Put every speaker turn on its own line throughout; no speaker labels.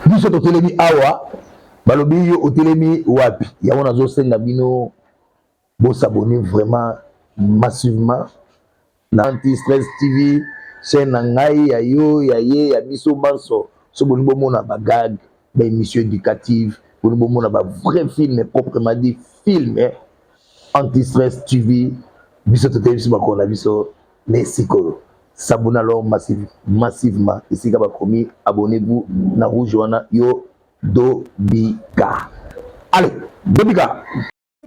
biso totelemi awa balobi yo otelemi wapi yango nazosenga bino bosabone vraiment massivement na anti stress tv chaîne na ngai ya yo ya ye ya biso banso so bolingi bomona bagag baémission éducative bolingi bomona ba vrai film proprement dit film anti stress tv biso toteyi biso makolo na biso mais sikoyo sabuna lor massive, massivement esika bakomi abonnez-vous na rouge wana yo dobika allez dobika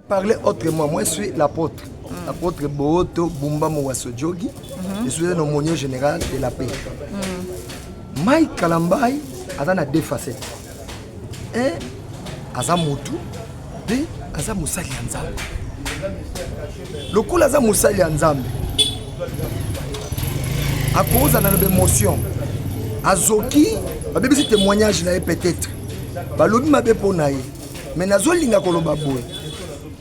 parler
autrement moi je suis l'apôtre mm. apôtre booto bumba mowaso jogi mm -hmm. je suis un aumônier général de la paix mm. mike kalambai aza na deux facettes Eh, aza mutu mpe aza mosali ya Nzambe. Lokola aza mosali ya Nzambe, akozala na bemotion, azoki babebisi témoignage na ye peut-être balobi mabe mpo na ye me nazolinga koloba boye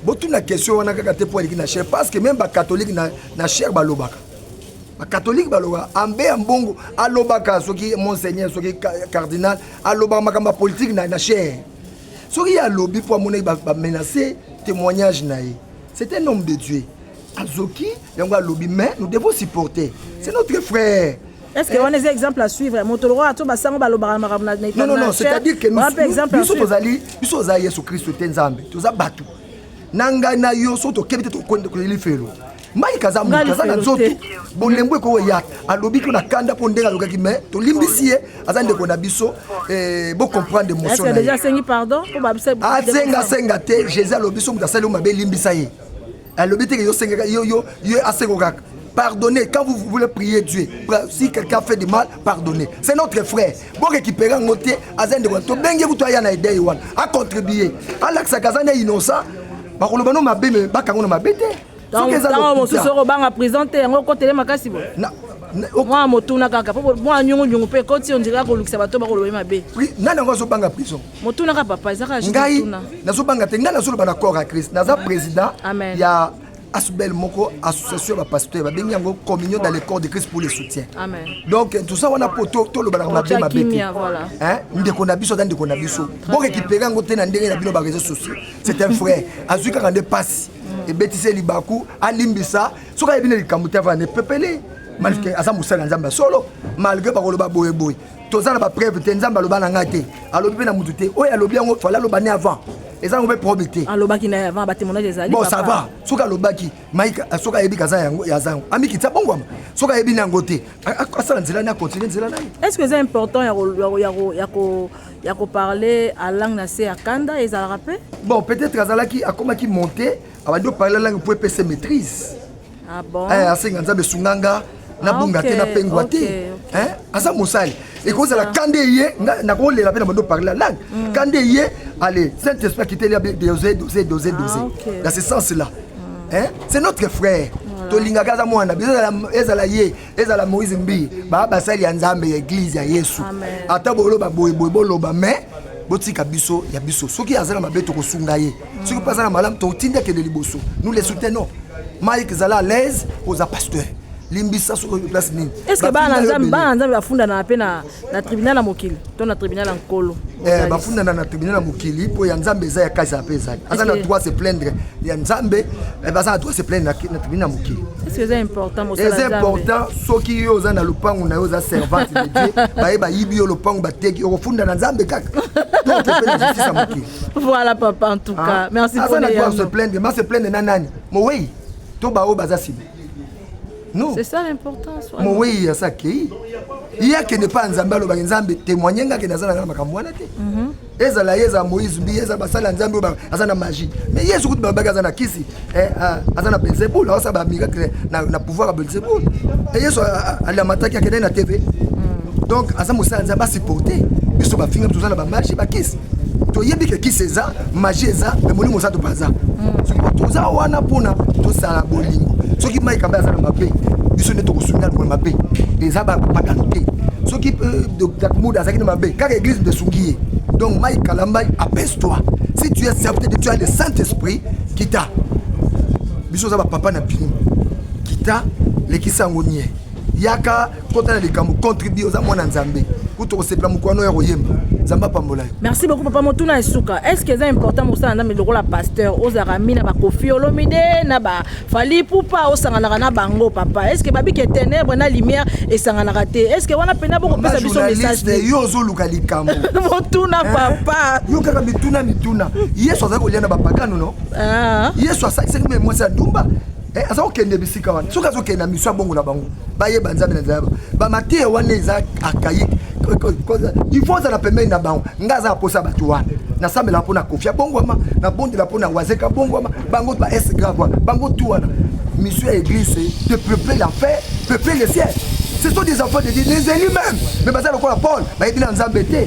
botuna question wana kaka te mpo aleki na chere parce que meme bakatholike na, na chere balobaka bakatholike balobaka ambe ya mbongo alobaka soki monseigneur soki cardinal alobaka makambo ya politike na, na chaire soki ye alobi mpo amonaki bamenace témoignage na ye c'est un homme de dieu azoki yango alobi mais nous devons supporter c'est notre frère est-ce que wana eza
exemple à suivre moto lokola to basango balobaka makambo na non non non
c'est-à-dire que biso tozali biso oza yesu kristo te nzambe toza bato na ngai na yo soki tokebi te tokoyeli felo Mike aza moto aza na nzoto bolembo ekoyo ya alobi ko na kanda mpo ndenge alobaki mais tolimbisi ye aza ndeko na biso eh, bocomprendre émotion
asenga senga te
jésus alobi so moto asali yo mabe elimbisa ye alobi teke yosengeka yo yo yo asengo kaka pardonnez quand vous voulez prier Dieu si quelqu'un fait du mal pardonnez c'est notre frère bo récupérer yango te aza ndeko to bengi kutu aya na idee wana a contribuer alakisaka aza nde innocent bakoloba no mabe me bakango na mabe te ntango mosusu
okobanga prison te yango okotele makasi boye mwa motuna kaka po mwa nyungunyungu mpe ekoti ondire akolukisa bato bakoloba ye mabe nani yango azobanga
prison motuna kaka papa eza
kaka ngai nazobanga
te ngai nazoloba na corps ya christ naza président ya
asbel
moko association ya bapasteur babengi yango communion dans le corps de christ pour le soutien Amen. donc eh,
toza wana
mpo tolobanaka mabe mabe te ndeko na biso aza ndeko na biso borekipere yango te na ndenge na bino bareseau sociaux c'est un frère azwi kaka nde pasi ebetisi ye libaku alimbisa soki ayebi nde likambo te avana epepele malgré aza mosali ya nzambe ya solo malgré bakoloba boyeboye toza na bapreuve te nzambe aloba na ngai te alobi mpe na motu te oyo alobi yango fale aloba ne avant eza yango mpe problème te alobaki na avant batemonage
ezali bon ça va soki alobaki
maike euh, soki ayebi kaza yango aza yango amikitisa bongwama soki ayebi na yango te asala nzela na continue nzela na ye est ce que eza important
ya ko parler à langue na se ya kanda ezalaka pe bon peut-être azalaki
akomaki monter abandi oparle langue mpo epese maîtrise ah
bon? eh, asenga nzambe esunga
nga nabunga ah, okay, te napengwa okay, te okay. Eh, aza mosali ekozala kande ye nakolela mpe na bando parle la langue mm. kande ye allez saint esprit akiteli abe dose dose dose ah, dose okay. dans ce sens là mm. eh, c'est notre frère tolingaka aza mwana ezala ye ezala moïse mbi baa basali ya nzambe ya eglize ya yesu ata boloba boyeboye boloba me botika biso ya biso soki aza na mabe tokosunga ye soki mpe aza na malamu totindi akende liboso nous le soutenons mike zala à l'aise oza pasteur limbisa soki place nini eske bana nzambe
bana nzambe bafundanaka mpe na na tribunal ya mokili to na tribunal ya nkolo eh, bafundana na
tribunal ya mokili mpo ya nzambe eza ya kasi ape ezali aza na droit se plaindre ya nzambe eh, baza na droit se plaindre na tribunal ya mokili
eza important
soki yo oza na lopango na yo oza servante de dieu baye bayibi yo lopango bateki okofunda na nzambe kaka voilà papa en
tout cas ah, merci aza na droit se plaindre ma se plaindre
na nani mowei to baoyo baza sibi non c'est ça l'importance
mowei ya sakei
ye akende mpa nzambe alobaki nzambe témoigne nga akende aza na nga na makambo wana te mhm. ezala ye ezala moïse mbi ezala basali ya nzambe oyo aza na magie mais yesu kutu balobaki aza na kisi eh, ah, aza na belzebul aosala bamiracle na pouvoir ya belzebul e yesu alamataki akendaki na tv mhm. donc aza mosala ya nzambe asupporte biso bafinga toza na bamagie bakisi toyebi ke kisi eza magie eza me molimo oza topaza hmm. soki toza wana mpona tosala bolingo soki mai kambe aza na mabe biso nde tokosunga lokola mabe eza bapagano te soki euh, dr mood azalaki na mabe kaka eglise nde esungi ye donc mai kalambai apese toi si tu es certain que tu as le saint esprit kita biso oza bapapa na bino kita lekisa yango nie yaka kota na likambo contribue oza mwana nzambe kutu okosepela mokwano ya koyemba nzambe apambola yo merci beaucoup papa motuna
ya suka est ce que eza important mosala nzambe lokola pasteur ozalaka mi na bakofi olomide na bafali pupa osanganaka na bango papa est ce que babike ténèbre na lumière esanganaka te est ce que wana mpena bokopesa biso message te yo ozoluka likambo
motuna eh?
papa yo kaka mituna
mituna yesu azali kolia na bapakano no ah. yesu asakisaki me mwasi ya ndumba Eh, aza kokende bisika wana soki azokende na miso ya bongo na bango bayeba nzambe na nzayaba bamateya wana eza akayi il faut azala pembeni na bango ngai aza naposa bato wana nasambelaka mpo na kofi abongwama nabondela mpo na wazeka abongwama bango ba s grave wana bango tu wana mission ya église de peupler la paix peupler le ciel ce sont des enfants de dieu les élus même mais baza lokola paul bayebi na nzambe te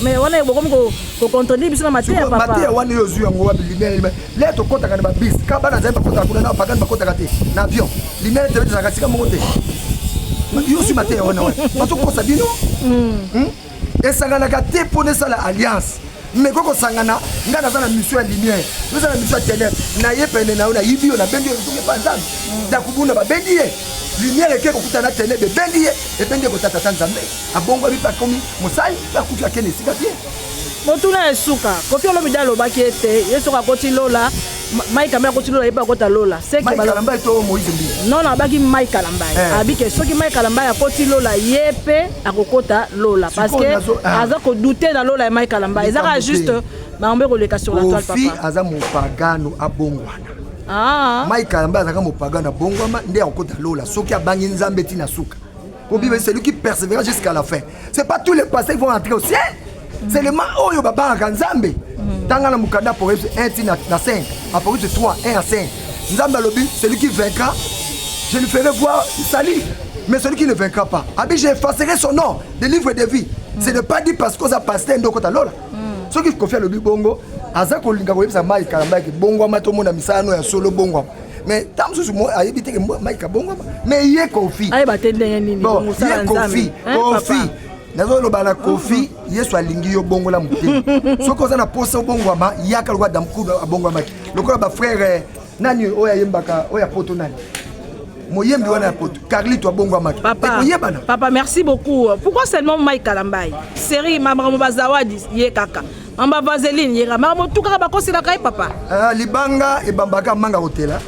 mais wana bokomi kocontredi biso na mateya papa mateya wana yo ozwi yango
wapi limele limele le tokotaka na babis ka bana zali bakotaka kuna na bapagani bakotaka te na avion limele tebe tozalaka sika moko te yo ozwi mateya wana wana bazokosa bino hmm. Hmm? esanganaka te mpo na esala alliance mais ko kosangana ngai naza na mission ya lumière oza na mission ya tenèbre naye pene na yo nayibi yo nabendi yo ezoki epa nzambe hmm. ndakubunda babendi ye lumière eke kokutana tenèbre ebendi ye ebendi ye kotatata nzambe abongwami mpe akomi mosali mpe akufi akende esika te motuna ya
suka kofi olomide alobaki ete ye soki akoti lola mai kambe akoti lola ye mpe akota lola
non abaki mai
kalambai eh. abi ke soki mai kalambai akoti lola ye mpe akokota lola parce que ah. aza kodoute na lola ya mai kalambai eza kaka juste bango mpe koleka sur la toile papa aza mopagano
abongwana ah. mai kalambai azalaka mopagano abongwama nde akokota lola soki abangi nzambe ti na suka Kobiba celui qui persévère jusqu'à la fin. C'est pas tous les passés qui vont entrer au ciel. C'est le man oyo babangaka Nzambe. Mm. Tanga na mukanda Apocalypse 1 ti na 5, Apocalypse 3 1 à 5. Nzambe alobi celui qui vaincra, je lui ferai voir salut. Mais celui qui ne vaincra pas, abi je effacerai son nom des livres de vie. Mm. C'est ne pas dit parce qu'on a passé ndoko ta lola. Mm. Soki kofia lobi bongo, aza kolinga koyebisa mai kalamba yake bongwama tomona misala no ya solo bongwama mais ntango mosusu mo ayebi te ke mike abongwama mais ye kofi ayeba te ndenge
nini ye kofi
kofi nazoloba na kofi yesu alingi yo bongola motema soki oza na mposa obongwama yaka lokola damkudu abongwamaki lokola bafrere nani oyo ayembaka oyo ya poto nani moyembi wana ya poto carlito abongwamaki ekoyebana papa
merci beaucoup pourquoi seulement mike kalambai série makambo bazawadi ye kaka amba vaseline yera maka motukaka bakoselaka ye papa ah, libanga
ebambaka manga kotela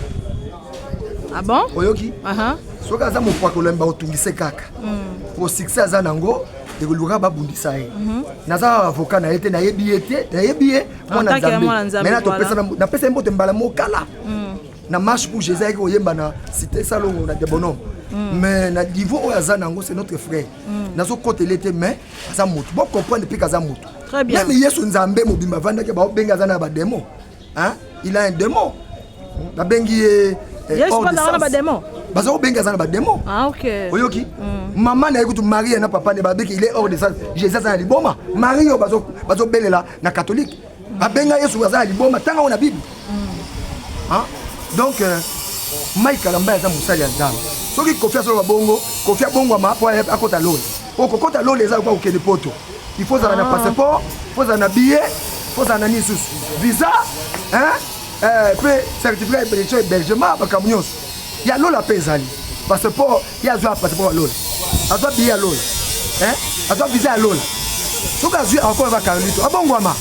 ah bon oyoki uh -huh.
soki aza mopakolami bakotungise kaka mm. po succès aza nango ekoluka babundisa ye mhm. naza avoka na ye te nayebi ye te nayebi ye mwana nzambe mai napesa ye mbote mbala mokala mm. na marche pour jésus ayaki koyemba na cité salongo na debonome mm. mais na niveau oyo aza nango c'est notre frère nazokotele te mais aza motu bo comprendre mpe kaza motu meme yesu
nzambe mobimba
avandaki baobengi aza na bademo il a un démon babengi ye eh,
baza kobengi aza na
bademo ah, oyoki
mm.
mama na ye kutu marie na papa ne babiki il est hors de sens jesus aza na liboma marie oyo bazobelela na katholike Babenga Yesu aza na liboma tanga na Bible. Hein? Donc euh, Mike Kalamba aza mosali ya Nzambe. Soki Kofi asoloba bongo, Kofi abongwama mpo akota lole. Mpo kokota lole eza lokola kokende poto. Il faut ozala na ah. passeport, il faut ozala na billet, il faut ozala na nini susu. Visa, hein? Euh, mpe certificat ya hébergement makambo nyonso. Ya lola mpe ezali. Passeport ye azwa passeport ya lola azwa biye ya lola azwa visa ya lola soki azwi akokola ba carlito abongwama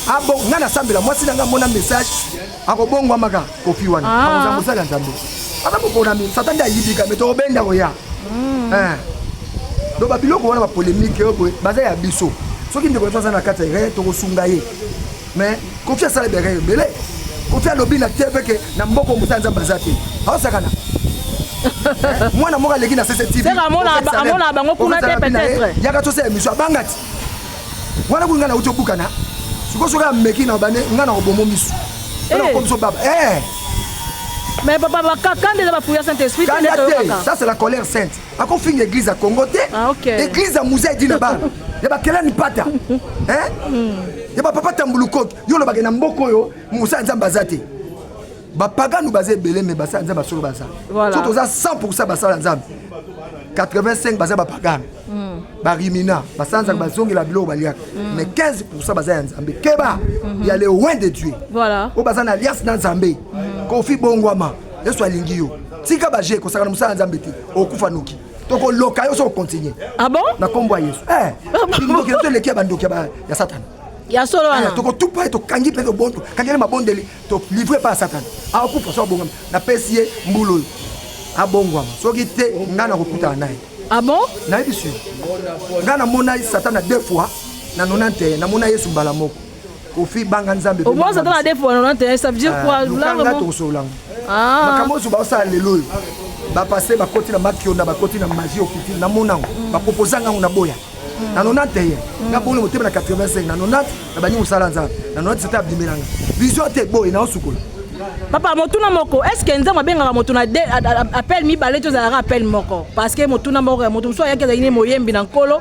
abo ngai
nasambela mwasi na ngai amona message akobongwama ka kofi wana ah. akozala mosali ya nzambe aza koponami satan nde ayibika me tokobenda koya hmm. eh. donc babiloko wana bapolemike oyo baza ya biso soki ndeko aza na kati ya ye tokosunga ye mais kofi asala biaka ebele kofi alobi na tv ke na mboko mosala nzambe aza te aosakana mwana moko aleki na cctv amonaka
bango kuna te peut-être yaka tosala émission abanga
ti wana kuinga nauti obukana sikoyo soki ameki na bane ngai nakobomo misu nakomiso eh. baba eh.
mais papa bakakanda eza bapuya saint esprit kanda te ça c'est
la colère sainte
akofinga
eglise ya congo te ah, okay. eglise
ya
musée edina bana ya bakelani pata eh? mm. ya bapapa tambulukoki yo olobake na mboka oyo mosala nzambe aza te bapagano baza ebele me basala nzambe basolo baza voilà. so toza 100 pourcent basala nzambe 85 baza bapagano mm. barimina basanzaka mm. bazongela biloko baliaka mm. mais 15 pourcent baza ya nzambe keba mm -hmm. ya le loin de dieu voilà. oyo baza na
alliance na
nzambe mm. kofi bongwama yesu alingi yo tika baje kosaka na mosala ya nzambe te okufa noki tokoloka yo soki okontinue ah bon? na nkombo ya
yesu eh,
ah ndoki nazo eleki ya bandoki ya satana ya solo wana eh,
tokotupa ye tokangi
mpe tobondo kangeli mabondeli tolivre epai ya satana akokufa ah, so abongama napesi ye mbulu oyo abongwama soki te ngai nakokutana naye ah bon
nayebisi yo
ngai namonai satana deux fois na 91 namona yesu mbala moko kofi banga nzambe omonisa ata na defo wana
te ça veut dire quoi eh, lukanga tokosololanga
ah. makambo oyo baosala lelo oyo bapase bakoti na makionda bakoti na magie okiti na monango mm. baproposa ngango na boya mm. na 91 mm. na bolo motema na 85 na 90 na bani mosala nzambe na 90 sete abimelanga vision te boye na osukola papa motuna
moko est ce que nzambe abengaka moto na appel mibale tozalaka appel moko parce que motuna moko ya moto mosusu ayaki azali ne moyembi na nkolo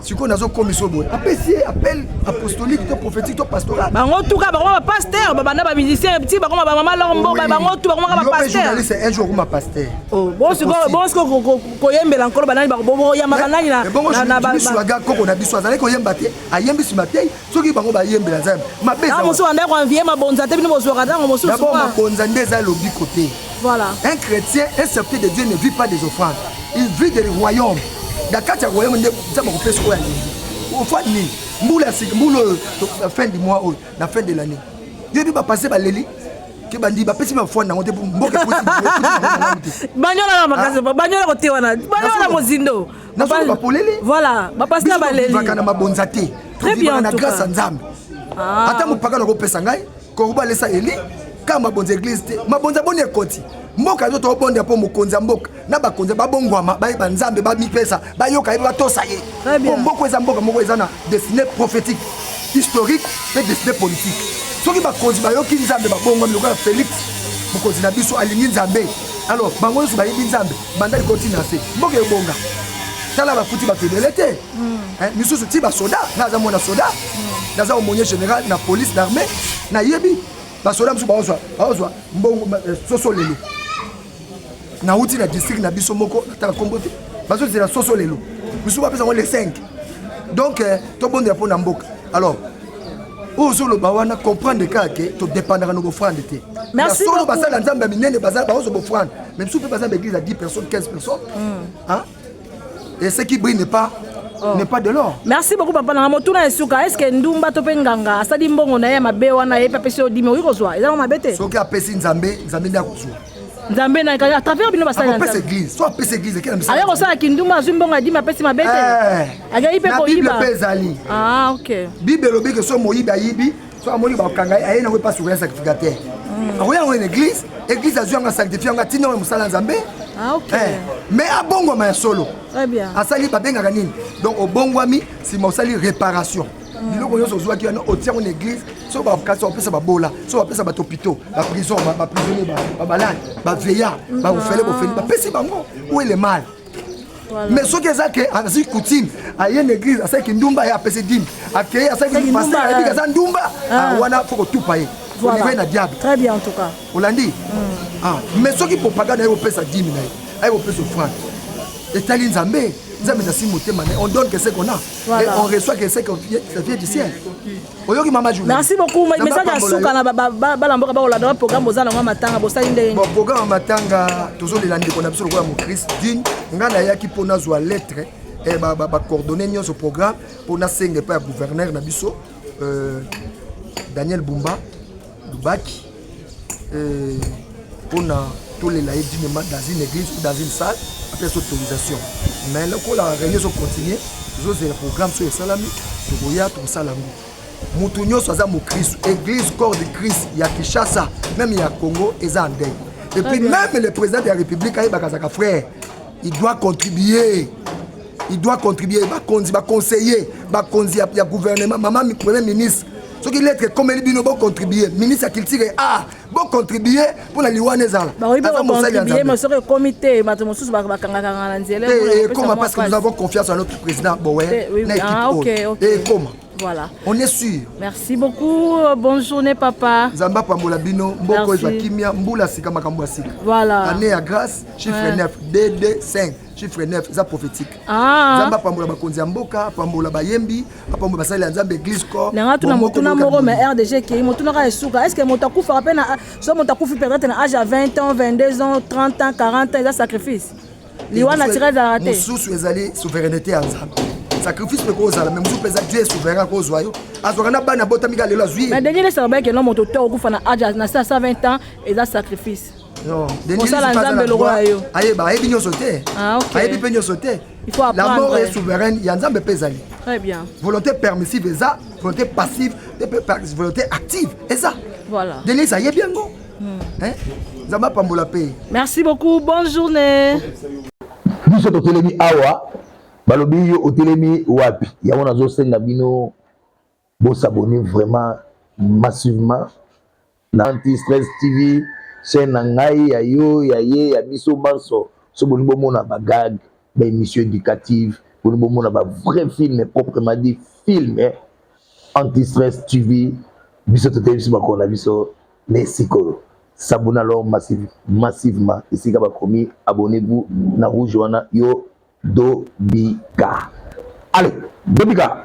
sikoyo nazokomisa oyo boye apesi ye appel apostolique to prophétique to pastoral bango tuka bango
bapaster babanda bamusicien ti bakoma bamama lor mboka bango tu bakomaka bapasterjournaliste un jour okoma paster
oh, bosiko
koyembela nkolo banani boyambaka nani na ebongo journaliste
koko na biso azalaki koyemba te ayembi nsima te soki bango bayembela nzambe mabe eza mosusu bandaki
koinvie mabonza te bino bozwaka ntango mosusu dabord mabonza nde eza
lobiko te voilà un
chrétien un
serviteur de dieu ne vit pas des offrandes il vit de royaume na kati ya royaume nde nzambe akopesa oyo alingi ofandi nini mbula ya sika mbula oyo na fin du mois oyo na fin de l'année yoyebi bapase baleli ke bandi bapesi bafwani yango te mboka banyola na makasi
banyola kote wana banyola mozindo nasoki bapolele
voilà bapasi na
balelivaka na mabonza te
tobivaka na grâce
ya nzambe
ah. ata mopaka nakopesa ngai koruba alesa eli kaka mabonza eglise te mabonza boni ekoti mboka ezo tobonda mpo mokonzi ya mboka na bakonzi babongwama bayeba nzambe bamipesa bayoka ye batosa ye mpo mboka eza mboka moko eza na destiné prophétique historique mpe destiné politique soki bakonzi bayoki nzambe babongwami lokola félix mokonzi na biso alingi nzambe alors bango nyonso bayebi nzambe banda likolo ti na se mboka ebonga tala bakuti bato ebele te hmm. eh, misusu ti basoda naza mwana soda hmm. naza omonier général na police d'armée nayebi basoda mosusu baozwa baozwa mbongo eh, soso lelo nauti na district na biso moko nataka nkombo te bazozela soso lelo misusu bapesa yango le 5 donc eh, tobondela mpo na mboka alors oyo ozoloba wana comprendre kaka ke todependaka na bofrande te solo basala
nzambe ya
minene bazala baozo bofrande mais bisu mpe baza na église ya 10 personnes 15 personnes hmm. et ce qui brille n'est pas Oh. n'est pas de l'or merci beaucoup papa nanga
motuna ya suka estce ndumba to mpe nganga asali mbongo na ye ya mabe wana ye mpe apesi yo dimi okoki kozwa ezalaka mabe te soki apesi nzambe
nzambe nde akozwa nzambe na
à travers bino basali apesa église so apesa
église ekela misala aya kosala kinduma azwi
mbongo adimi apesi mabe te akei mpe koyiba mpe ezali
ah ok
bible elobi ke so
moyibi ayibi so amoni bakanga ye aye nango epa surveille sacrificateur hmm. akoya yango na église église azwi yango asanctifie yango atinda yango mosala ya nzambe ah, eh,
mais
abongwama ya solo asali
babengaka nini
donc obongwami nsima osali réparation biloko nyonso ozwaki wana otia yango na église so bakasi opesa babola so bapesa bato pito baprison baprisonnier babalani baveya bafele bofeli bapesi bango ou ele mal mais soki eza ke azwi coutume aye na église asali kindumba ye apesi dime akei asali kindumba ayebi aza ndumba ah. Ah, wana fo kotupa ye olive na diable très bien en tout cas
olandi mm.
ah, mais soki propagande aye kopesa dime na ye aye kopesa ofrande etali nzambe nzambe ezasi motema na ye on donne que ce qu'on a Voilà. Et on reçoit que c'est que ça vient du ciel. Oyoki mama journée. Merci beaucoup. Mais ça dans
suka na bala mboka ba kolanda programme boza na matanga bosali ndenge. Bon programme matanga
tozo lela ndeko na biso lokola mo Christ digne nga na yaki pona zwa lettre et eh, ba ba, ba coordonner nyoso programme pona senga pa gouverneur na biso euh, Daniel Bumba Lubaki euh, pona tolela ye dinement dans une église ou dans une salle apesa autorisation mais lokola réunion ezocontinue tozozela programme soyo esalami tokoya tokosala yango moto nyonso aza mokristu église corps de christ ya kinshasa meme ya congo eza ndei et puis meme le président de la république ayebaka azaka frère il doit contribuer il doit contribuer bakonzi baconseiller bakonzi ya gouvernement mama premier ministre soki lettre ekomeli bino bocontribue ministre ya culture a ah, bocontribue mpo na liwa na ezala aza mosali ya nzambe soki ekomi te
bato mosusu bakangakanga na nzela ekoma parce que nous
avons confiance en notre président bowe na équipe ah, oyo ekoma Voilà. On est sûr. Merci beaucoup.
Bonne journée, papa. Zamba Pambola Bino,
Mboko Kimia, Mboula Sika Makambo Sika. Voilà. Année à
grâce,
chiffre ouais. 9, DD 5, chiffre 9, ça prophétique. Ah. Zamba Pambola Bakonzi Mboka, Pambola Bayembi, apambo basali ya nzambe eglise corps na ngai tuna motuna moko
mais rdg ekei motuna kaka esuka est ce que moto akufaka mpe na so moto akufi peut-être na age ya 20 ans 22 ans 30 ans 40 ans eza sacrifice liwa naturel ezalaka te mosusu ezali
souveraineté ya nzambe sacrifice mpe kozala me mosusu mpenza dieu souverain akozwa yo azwaka na bana abotami ka lelo azwi mais denge lesaka bayeke no
moto to okufa na age na 120 ans eza sacrifice mosala
nzambe lokola yo ayeba ayebi nyonso te ah, ayebi mpe nyonso te la mort est
souveraine
ya nzambe mpe ezali très bien volonté
permissive
eza volonté passive volonté active eza voilà denise
ayebi yango
hmm. nzambe apambola mpe merci beaucoup bonne
journée
biso totelemi awa balobi yo otelemi wapi yango nazosenga bino Bo s'abonner vraiment massivement na Anti Stress TV chaîne na ngai ya yo ya ye ya biso banso so boni bomona ba gag ba émission éducative boni bomona ba vrai film proprement dit film eh? Anti Stress TV biso toteyi biso makolo na biso na esikolo sabona alors massive, massivement esika bakomi abonnez-vous na rouge wana yo dobika allez dobika